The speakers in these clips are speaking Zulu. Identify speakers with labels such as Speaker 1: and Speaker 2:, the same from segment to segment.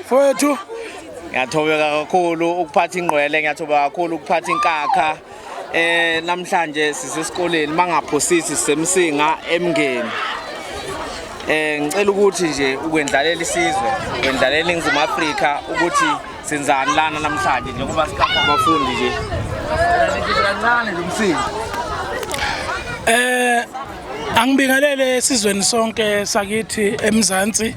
Speaker 1: Mfowethu ngiyathobeka
Speaker 2: kakhulu ukuphatha ingqwele ngiyathobeka kakhulu ukuphatha inkakha eh namhlanje sisesikoleni mangaphosisi semsinga emngeni eh ngicela ukuthi nje ukwendlalela isizwe ukwendlalela iNingizimu Afrika ukuthi senzani lana namhlanje njengoba sikhapha abafundi nje kancane lo msinga
Speaker 1: eh angibingelele esizweni sonke sakithi eMzansi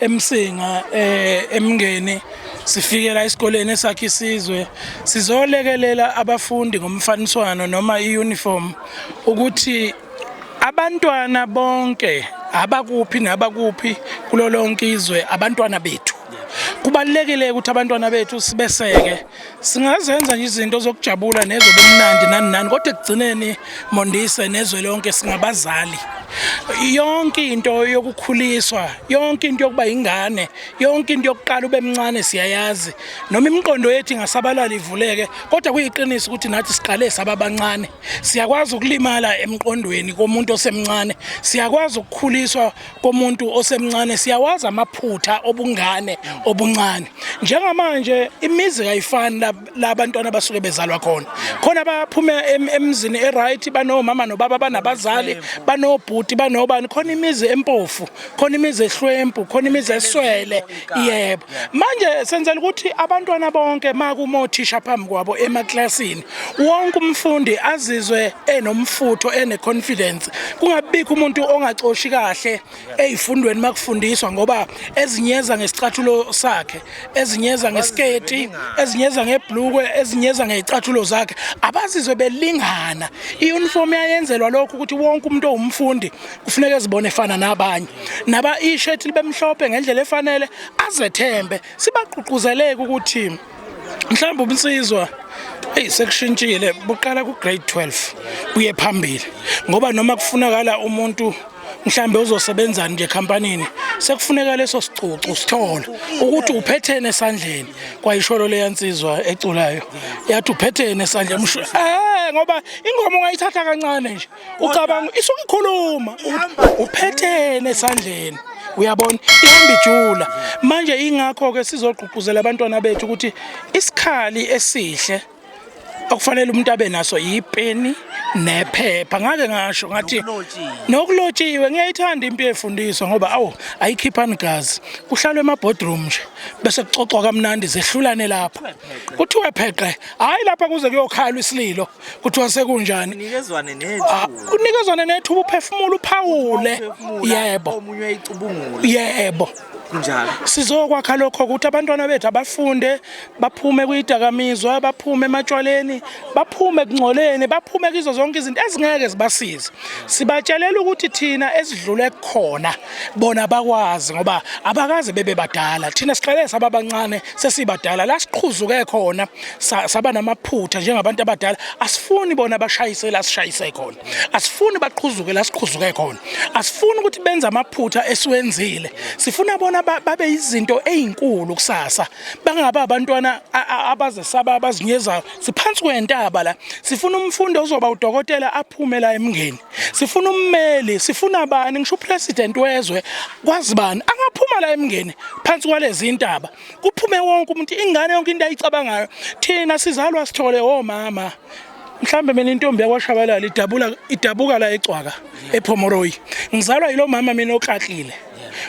Speaker 1: emsinga eh, emngeni sifikela esikoleni esakhe isizwe sizolekelela abafundi ngomfaniswano noma iuniform ukuthi abantwana bonke abakuphi nabakuphi kulolonke izwe abantwana bethu kubalekile ukuthi abantwana bethu sibeseke Singazenza nje izinto zokujabula nezobumnandi nani nani kodwa ekugcineni Mondise nezwe lonke singabazali. Yonke into yokukhuliswa, yonke into yokuba ingane, yonke into yokuqala ube mncane siyayazi. Noma imiqondo yethu ingasabalala ivuleke kodwa kuyiqiniso ukuthi nathi siqale sababancane. Siyakwazi ukulimala emqondweni komuntu osemncane. Siyakwazi ukukhuliswa komuntu osemncane siyawazi amaphutha obungane obuncane njengamanje imizi kayifani labantwana basuke bezalwa khona khona baphuma emzini eright banomama nobaba banabazali banobhuti banobani khona imizi empofu khona imizi ehlwempu khona imizi eswele yebo manje senzela ukuthi abantwana bonke makuma othisha phambi kwabo emaklasini wonke umfundi azizwe enomfutho ene-confidence kungabibikho umuntu ongacoshi kahle ey'fundweni makufundiswa ngoba ezinyeza ngesicathulo sakhe ezinyeza ngesiketi ezinyeza ngebhlukwe ezinyeza ngey'cathulo zakhe abazizwe belingana i-uniform yayenzelwa lokho ukuthi wonke umuntu owumfundi kufuneka ezibone efana nabanye naba ishethi libemhlophe ngendlela efanele azethembe sibaqhuquzeleke ukuthi mhlawumbe ubunsizwa eyi sekushintshile buqala ku-grade 12 kuye phambili ngoba noma kufunakala umuntu mhlambe uzosebenzani nje companyini sekufuneka leso sicucu sithole ukuthi uphethene esandleni kwayisholo leyansizwa eculayo yathi uphethene esandleni eh ngoba ingoma ungayithatha kancane nje ucabanga isuke ikhuluma uphethene esandleni uyabona ihamba ijula manje ingakho ke sizogqugquzela abantwana bethu ukuthi isikhali esihle okufanele umuntu abe naso yipeni nephepha ngake ngasho ngathi nokulotshiwe ngiyayithanda impi efundiswa ngoba awu ayikhiphani gazi kuhlalwe emabodroom nje bese kuxoxwa kamnandi zehlulane lapho kuthiwe pheqe hayi lapha kuze kuyokhalwa isililo kuthiwa sekunjani unikezwane nethuba ah, unikezwane nethuba uphefumula uphawule yebo omunye uyayicubungula yebo njalo sizokwakha lokho ukuthi abantwana bethu abafunde baphume kuyidakamizwa baphume ematshwaleni baphume kungcoleni baphume kizo zonke izinto ezingeke zibasize sibatshelela ukuthi thina esidlule kukhona bona bakwazi ngoba abakaze bebe badala thina siqale sababancane sesibadala la siqhuzuke khona saba namaphutha njengabantu abadala asifuni bona bashayise la sishayise khona asifuni baqhuzuke la siqhuzuke khona asifuni ukuthi benze amaphutha esiwenzile sifuna bona babe izinto ezinkulu kusasa bangaba abantwana abazesaba abazinyezayo siphansi kwentaba la sifuna umfundi ozoba udokotela aphume la emngeni sifuna ummeli sifuna abani ngisho upresident wezwe kwazibani angaphuma la emngeni phansi kwalezi intaba kuphume wonke umuntu ingane yonke into ayicabangayo thina sizalwa sithole omama mhlambe mina intombi yakwashabalala idabula idabuka la ecwaka ephomoroyi ngizalwa yilo mama mina oklatlile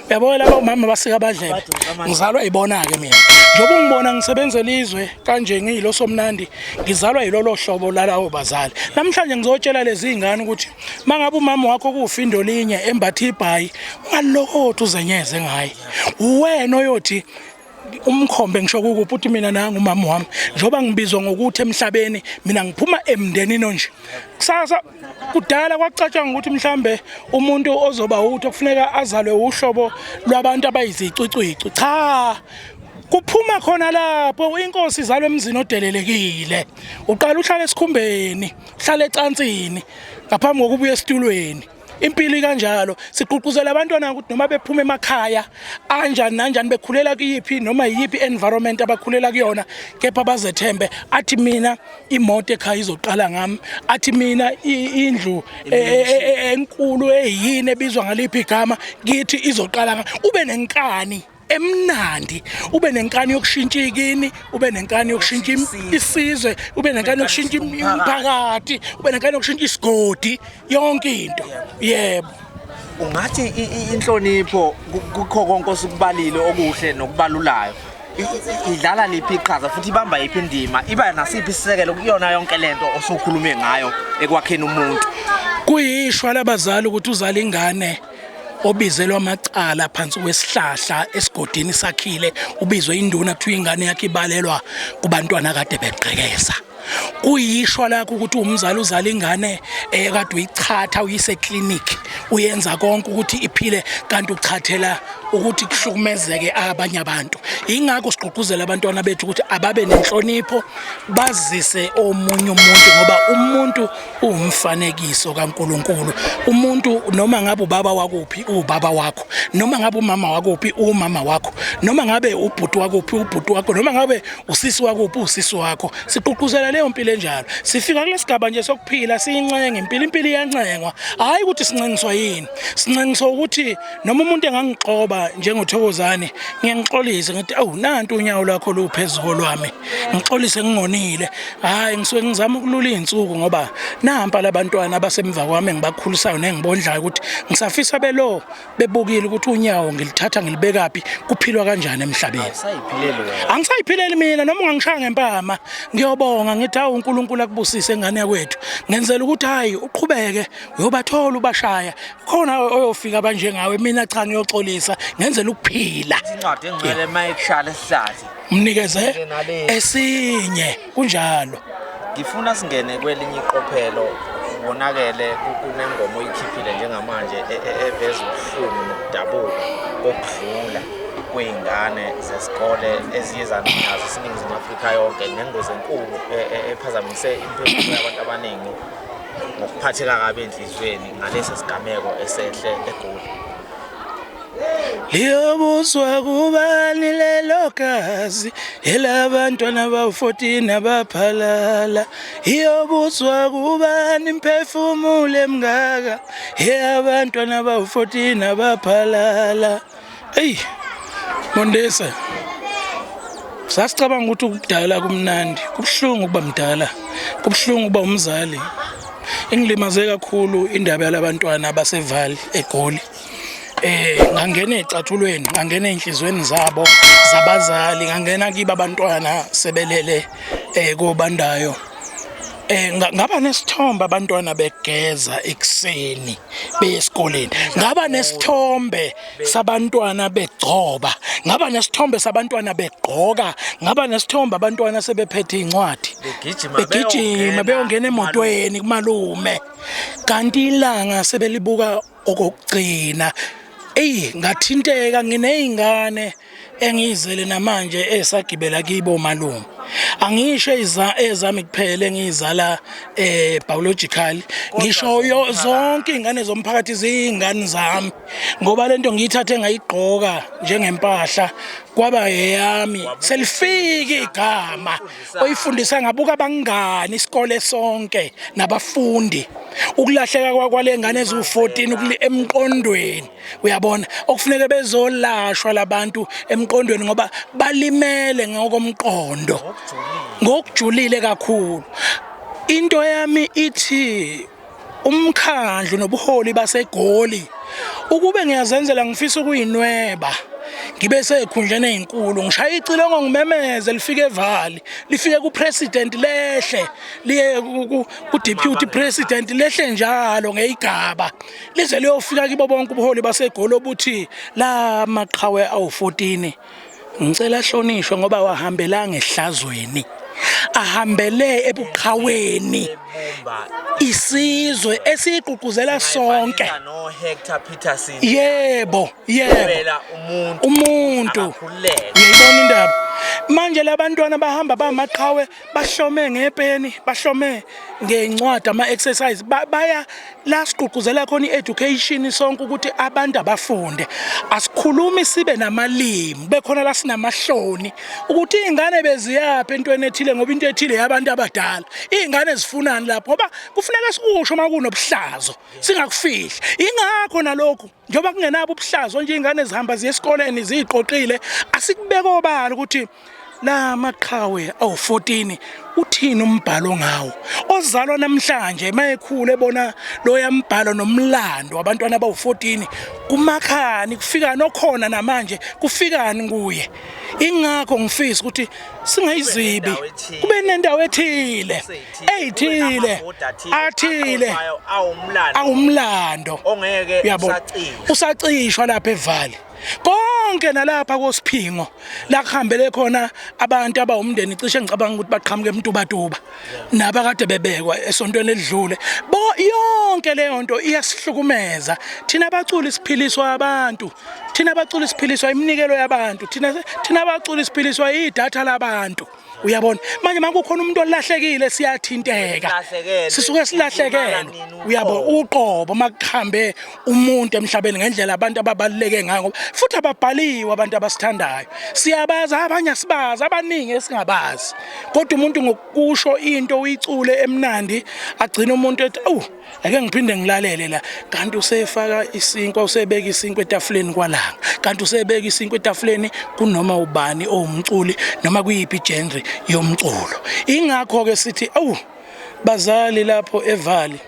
Speaker 1: uyabona laba omama basika abadlebe ngizalwa ibona-ke mina njengoba ungibona ngisebenzela izwe kanje ngiyilo somnandi ngizalwa yilolo hlobo lalawo bazali namhlanje ngizotshela lezi iy'ngane ukuthi uma ngabe umama wakho kuwufindolinye embathe ibhayi ungalokothi uzenyeze ngaye uwena oyothi umkhombe ngisho kukuphi uthi mina nangu umama wami njengoba ngibizwa ngokuthi emhlabeni mina ngiphuma emndenini onje kusasa kudala kwacatshwa ngokuthi mhlambe umuntu ozoba uthi okufuneka azalwe uhlobo lwabantu abayizicwicwicu cha kuphuma khona lapho inkosi izalwe emzini odelelekile uqala uhlala esikhumbeni uhlala ecansini ngaphambi kokubuya esitulweni impilo ikanjalo sigqugquzela abantwana ukuthi noma bephuma emakhaya anjani nanjani bekhulela kuyiphi noma yiyiphi environment abakhulela kuyona kepha bazethembe athi mina imoto ekhaya izoqala ngami athi mina indlu e, e, e, enkulu eyini ebizwa ngaliphi igama kithi izoqala ngami ube nenkani emnandi ube nenkani yokushintsha ikini ube nenkani yokushintsha isizwe ube nenkani yokushintsha umphakathi ube nenkani yokushintsha isigodi yonke into yebo ungathi
Speaker 2: inhlonipho kukho konke osikubalile okuhle nokubalulayo idlala liphi iqhaza futhi ibamba yiphi indima iba nasiphi isisekelo kuyona yonke lento osukhulume ngayo ekwakheni umuntu kuyishwa
Speaker 1: labazali ukuthi uzala ingane obizelwa amacala phansi kwesihlahla esigodini sakhile ubizwe induna kuthiwa ingane yakhe ibalelwa kubantwana kade begqekeza kuyishwa lakho ukuthi umzali uzala ingane ekade eh, uyichatha uyise clinic uyenza konke ukuthi iphile kanti uchathela ukuthi kuhlukumezeke abanye abantu ingakho sigqugquzela abantwana bethu ukuthi ababe nenhlonipho bazise omunye umuntu ngoba umuntu uwumfanekiso kaNkuluNkulu umuntu noma ngabe ubaba wakuphi ubaba wakho noma ngabe umama wakuphi umama wakho noma ngabe ubhuti wakuphi ubhuti wakho noma ngabe usisi wakuphi usisi wakho siququzela leyo mpilo enjalo sifika kulesigaba nje sokuphila siyincenge impilo impilo iyancengwa hayi ukuthi sincengiswa yini sincengiswa ukuthi noma umuntu engangixoba njengothokozane ngiyangixolise ngithi awu nantu unyawo lwakho luphezu kolwami ngixolise ngingonile hayi ngisuke ngizama ukulula izinsuku ngoba nampa labantwana abasemva kwami engibakhulisayo nengibondlayo ukuthi ngisafisa belo bebukile ukuthi unyawo ngilithatha ngilibekaphi kuphilwa kanjani emhlabeni angisayiphileli mina noma ungangishaya ngempama ngiyobonga ngithi awu uNkulunkulu akubusise ingane yakwethu ngenzela ukuthi hayi uqhubeke uyobathola ubashaya khona oyofika abanjengawe mina cha ngiyoxolisa ngenzela ukuphila incwadi engcwele
Speaker 2: mayekshale sihlathi mnikeze
Speaker 1: esinye kunjalo ngifuna
Speaker 2: singene kwelinye iqophelo wonakele kunengoma oyikhiphile njengamanje e, e, eveza ubuhlungu nokudabuka kokudlula kwey'ngane zesikole eziye zaninazo isiningizimu afrika yonke nengozi enkulu e, ephazamise impilo yabantu abaningi ngokuphatheka kabi enhliziyweni ngalesi sigameko esehle egoli
Speaker 1: liyobuswa kubani lelo gazi elabantwana bawu-14 abaphalala iyobuswa kubani imphefumulo emngaka eyabantwana bawu-14 abaphalala eyi mondesa sasicabanga ukuthi ukudala kumnandi kubuhlungu ukuba mdala kubuhlungu ukuba umzali ingilimaze kakhulu indaba yalabantwana abasevali egoli eh ngangena ecathulweni ngangena enhlizweni zabo zabazali ngangena kiba abantwana sebelele eh kobandayo Eh ngaba nesithombe abantwana begeza ekseni beye esikoleni. Ngaba nesithombe sabantwana begcoba. Ngaba nesithombe sabantwana begqoka. Ngaba nesithombe abantwana sebephethe incwadi. Begijima beyongena emotweni kumalume. Kanti ilanga sebelibuka okokugcina eyi ngathinteka nginey'ngane engiyizele namanje esagibela kibo malume angisho ezami kuphela engiyizala eh biological ngisho zonke izingane zomphakathi ziyingane zami ngoba lento ngiyithathe ngayigqoka njengempahla kwaba eyami selifike igama oyifundisa ngabuka abangani isikole sonke nabafundi ukulahleka kwakwale ngane eziwu-14 emqondweni uyabona okufuneke bezolashwa labantu emqondweni ngoba balimele ngokomqondo ngokujulile kakhulu into yami ithi umkhandlu nobuholi baseGoli ukube ngiyazenzela ngifisa ukuyinweba ngibe sekhundleni ezinkulu ngishaya icilongo ngimemeze lifike evali lifike ku president lehle liye ku deputy president lehle njalo ngeyigaba lize liyofika kibo bonke ubuholi basegolo obuthi la maqhawe awu 14 ngicela ahlonishwe ngoba wahambelanga ehlazweni ahambele ebuqhaweni isizwe esiqhuquzela sonke
Speaker 2: yebo
Speaker 1: yebo
Speaker 2: umuntu
Speaker 1: yeyibona indaba manje labantwana bahamba bamaqhawe bahlome ngepeni bahlome ngencwadi ama-exercise baya la sigqugquzela khona i-education sonke ukuthi abantu abafunde asikhulumi sibe namalimi bekhona la sinamahloni ukuthi iy'ngane beziyaphi entweni ethile ngoba into ethile yabantu abadala iy'ngane zifunani lapho ngoba kufuneka sikusho uma kunobuhlazo singakufihli yingakho nalokhu njengoba kungenabo ubuhlazo nje iy'ngane zihamba ziye esikoleni ziyiqoqile asikubeka obala ukuthi la maqhawe awu-14 uthini umbhalo ngawo ozalwa namhlanje mayekhulu ebona loya mbhalo nomlando wabantwana abawu-14 kumakhani kufikani okhona namanje kufikani kuye ingakho ngifisa ukuthi singayizibi kube nendawo ethile eyithile athile awumlando ongeke
Speaker 2: usacishwa
Speaker 1: lapha evali konke nalapha kosiphingo la kuhambele khona abantu abawumndeni cishe ngicabanga ukuthi baqhamuke emtubatuba naba kade bebekwa esontweni elidlule bo yonke leyo nto iyasihlukumeza thina baculi siphiliswa abantu thina baculi siphiliswa iminikelo yabantu thina thina baculi siphiliswa idatha labantu uyabona manje makukhona umuntu olahlekile siyathinteka sisuke silahlekelwe uyabona uqobo makuhambe umuntu emhlabeni ngendlela abantu ababaluleke ngayo ngoba futhi ababhaliwe abantu abasithandayo siyabazi abanye asibazi abaningi esingabazi kodwa umuntu ngokusho into uyicule emnandi agcina umuntu ethi awu ake ngiphinde ngilalele la kanti usefaka isinkwa usebeka isinkwa etafuleni kwalanga kanti usebeka isinkwa etafuleni kunoma ubani owumculi noma kuyiphi genre yomculo ingakho ke sithi awu bazali lapho evali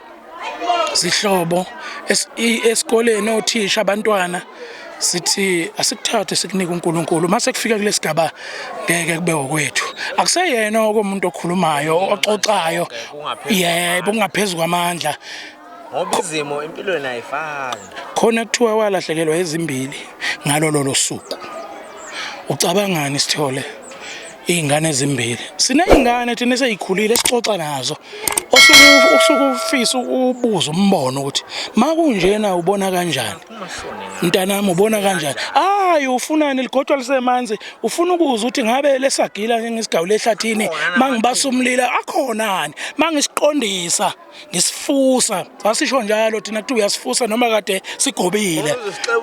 Speaker 1: sihlobo esikoleni othisha abantwana sithi asikuthathe sikunike uNkulunkulu mase kufika kulesigaba ngeke kube okwethu akuseyena okomuntu okhulumayo oxoxayo yebo kungaphezulu kwamandla ngoba
Speaker 2: izimo empilweni ayifani khona kuthiwa
Speaker 1: walahlekelwa ezimbili ngalolo losuku ucabangani sithole izingane ezimbili sinezingane thina seyikhulile sixoxa nazo osuku usukufisa ubuza umbono ukuthi makunjena ubona kanjani mntanami ubona kanjani hayi ufunani ligodwa lisemanzi ufuna ukuza ukuthi ngabe lesagila njengesigawule ehlathini mangibasa umlila akhonani mangisiqondisa ngisifusa sasisho njalo thina kuthi uyasifusa noma kade sigobile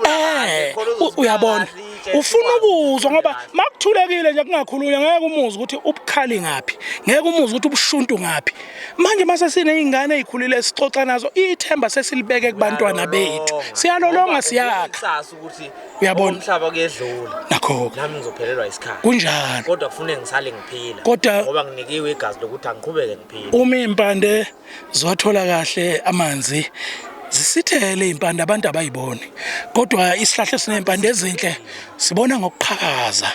Speaker 1: eh uyabona ufuna ukuzwa ngoba makuthulekile nje kungakhulunywa ngeke umuzi ukuthi ubukhali ngaphi ngeke umuzi ukuthi ubushuntu ngaphi manje mase sineyingane ezikhulile sixoxa nazo ithemba sesilibeke kubantwana bethu siyalolonga siyakha ukuthi uyabona umhlaba kuyedlula
Speaker 2: nakho nami
Speaker 1: ngizophelelwa isikhathi
Speaker 2: kunjalo kodwa kufuneka
Speaker 1: ngisale
Speaker 2: ngiphila kodwa ngoba nginikiwe
Speaker 1: igazi
Speaker 2: lokuthi angiqhubeke ngiphila uma impande
Speaker 1: zothola kahle amanzi zisithele impande abantu abayiboni kodwa isihlahla sinempande ezinhle sibona ngokuqhakaza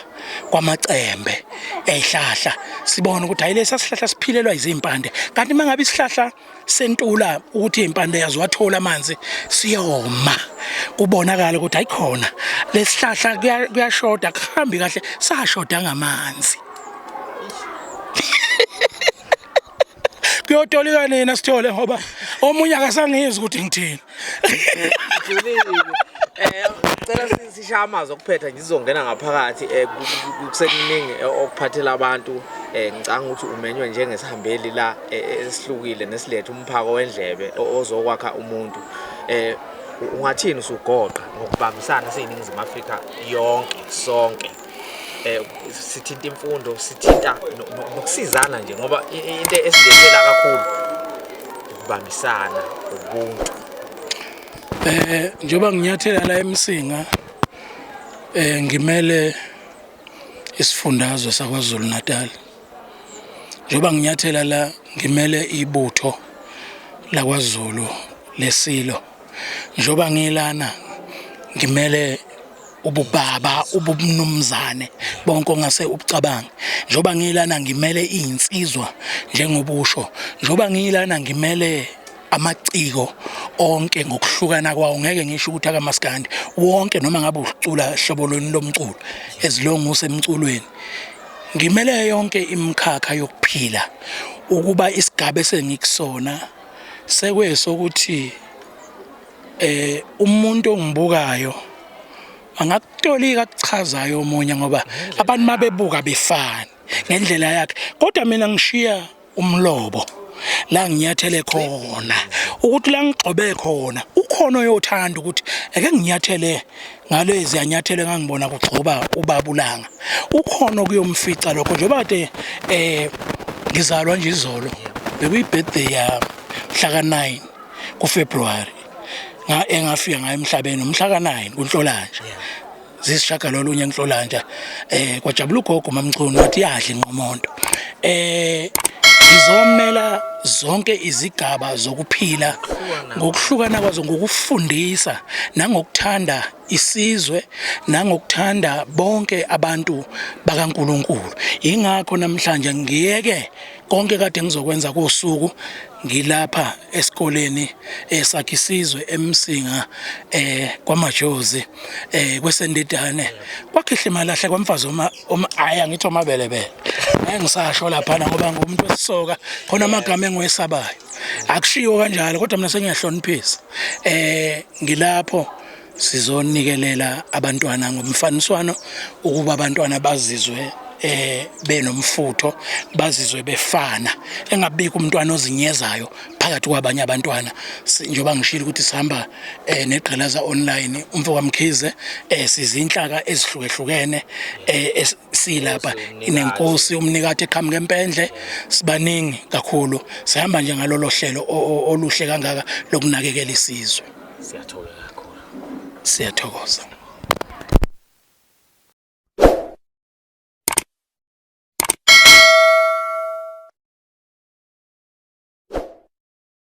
Speaker 1: kwamacembe ezihlahla sibona ukuthi hayi lesa sihlahla siphilelwa izimpande kanti mangabe isihlahla sentula ukuthi impande yazo wathola amanzi siyoma kubonakala ukuthi ayikhona lesihlahla kuyashoda kuhambi kahle sashoda ngamanzi kuyotolika nina sithole ngoba omunye akasangizwa ukuthi ngithini
Speaker 2: eh cela sisha amazwi okuphetha ngizongena ngaphakathi eh, kusekuningi eh, okuphathela abantu eh, ngicanga ukuthi umenywe njengesihambeli la esihlukile nesilethe umphako wendlebe ozokwakha umuntu eh ungathini usugoqa ngokubambisana siyiningizimu Afrika yonke sonke eh sithinta imfundo sithinta nokusizana nje ngoba into esidedela kakhulu ukubambisana ubuntu eh
Speaker 1: njoba nginyathela la emsinga eh ngimele isifundazwe sakwaZulu Natal njoba nginyathela la ngimele ibutho lakwaZulu lesilo njoba ngilana ngimele ububaba ubumnumzane bonke ongase ubucabange njoba ngilana ngimele izinsizwa njengoba usho njoba ngilana ngimele amaciko onke ngokuhlukana kwawo ngeke ngisho ukuthi akamaskandi wonke noma ngabe ucula hlobo lweni lomculo ezilonga usemculweni ngimele yonke imikhakha yokuphila ukuba isigaba esengikusona sekwesokuthi eh umuntu ongibukayo angakutolika akuchazayo omunye ngoba abantu mabebuka befana ngendlela yakhe kodwa mina ngishiya umlobo la nginyathele khona ukuthi la ngigxobe khona ukhona oyothanda ukuthi eke nginyathele ngalezi anyathele ngangibona kugxoba ubabulanga ukhona kuyomfica lokho njengoba kade eh ngizalwa nje izolo bekuyibirthday yami mhla ka 9 kuFebruary engafika ngayo emhlabeni umhla ka-9 kunhlolanja zisishagalolunye enhlolanja eh kwajabula ugogo mamchunu wathi yadla inqomonto eh izomela zonke izigaba zokuphila ngokuhlukana kwazo ngokufundisa nangokuthanda isizwe nangokuthanda bonke abantu bakaNkuluNkulu ingakho namhlanje ngiyeke konke kade ngizokwenza kosuku ngilapha esikoleni eh, sakhisizwe emsinga eh kwamajozi eh kwesendidane kwakhihle malahle kwamfazi uma uma ayi angithi omabele bele ngeke ngisasho lapha ngoba ngumuntu wesisoka khona amagama engiwesabayo akushiwo kanjalo kodwa mina sengiyahloniphisa eh ngilapho Sizonikelela abantwana ngomfaniswano ukuba abantwana bazizwe eh benomfutho bazizwe befana engabikho umntwana ozinyezayo phakathi kwabanye abantwana njengoba ngishilo ukuthi sihamba eh negqilaza online umfo kaMkhize eh sizinhlaka ezihlukehlukene eh silapha inenkosi umnikati eqhamuke empendle sibaningi kakhulu sihamba nje ngalolo hlelo oluhle kangaka lokunakekela isizwe Siyathola kakhulu. Siyathokoza.